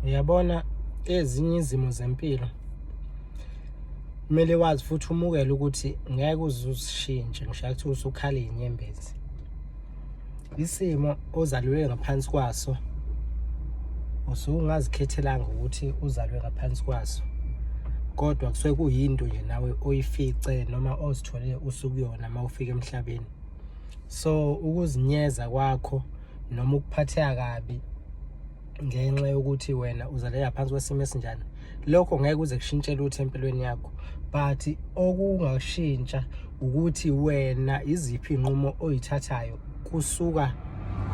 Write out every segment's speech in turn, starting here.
uyabona ezinye izimo zempilo kumele wazi futhi umukele ukuthi ngeke uzusishintshe ngisho ukuthi usukhala inyembezi isimo ozalwe ngaphansi kwaso usungazikhethelanga ukuthi uzalwe ngaphansi kwaso kodwa kusuke kuyinto nje nawe oyifice noma ozithole usukuyona uma ufika emhlabeni so ukuzinyeza kwakho noma ukuphatheka kabi ngenxa yokuthi wena uzalela phansi kwesimo esinjani lokho ngeke kuze kushintshe lutho empilweni yakho but okungashintsha ukuthi wena iziphi inqumo oyithathayo kusuka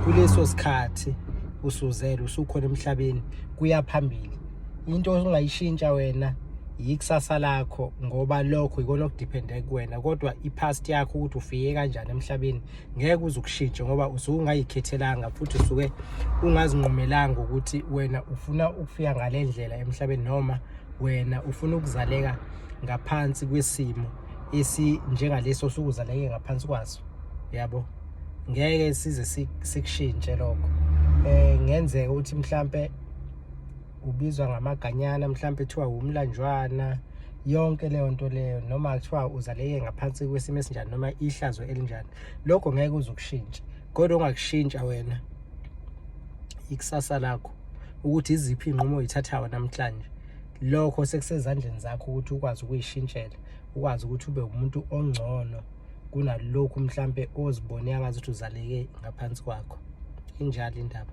kuleso sikhathi usuzele usukhona emhlabeni kuya phambili into ongayishintsha wena yikusasa lakho ngoba lokho yikona okudepende kuwena kodwa i-past yakho ukuthi ufike kanjani emhlabeni ngeke uze ukushintshe ngoba usuke ungayikhethelanga futhi usuke ungazinqumelanga ukuthi wena ufuna ukufika ngale ndlela emhlabeni noma wena ufuna ukuzaleka ngaphansi kwesimo esinjengaleso sukuzaleke ngaphansi kwaso yabo ngeke size sikushintshe lokho eh ngenzeka ukuthi mhlambe ubizwa ngamaganyana mhlawumbe kuthiwa wumlanjwana yonke leyo nto leyo noma kuthiwa uzaleke ngaphansi kwesimo esinjani noma ihlazo elinjani lokho ngeke uzokushintsha kodwa ongakushintsha wena ikusasa lakho ukuthi iziphi inqumo oyithathayo namhlanje lokho sekusezandleni zakho ukuthi ukwazi ukuyishintshela ukwazi ukuthi ube umuntu ongcono kunalokhu mhlambe ozibone angazi ukuthi uzaleke ngaphansi kwakho injalo indaba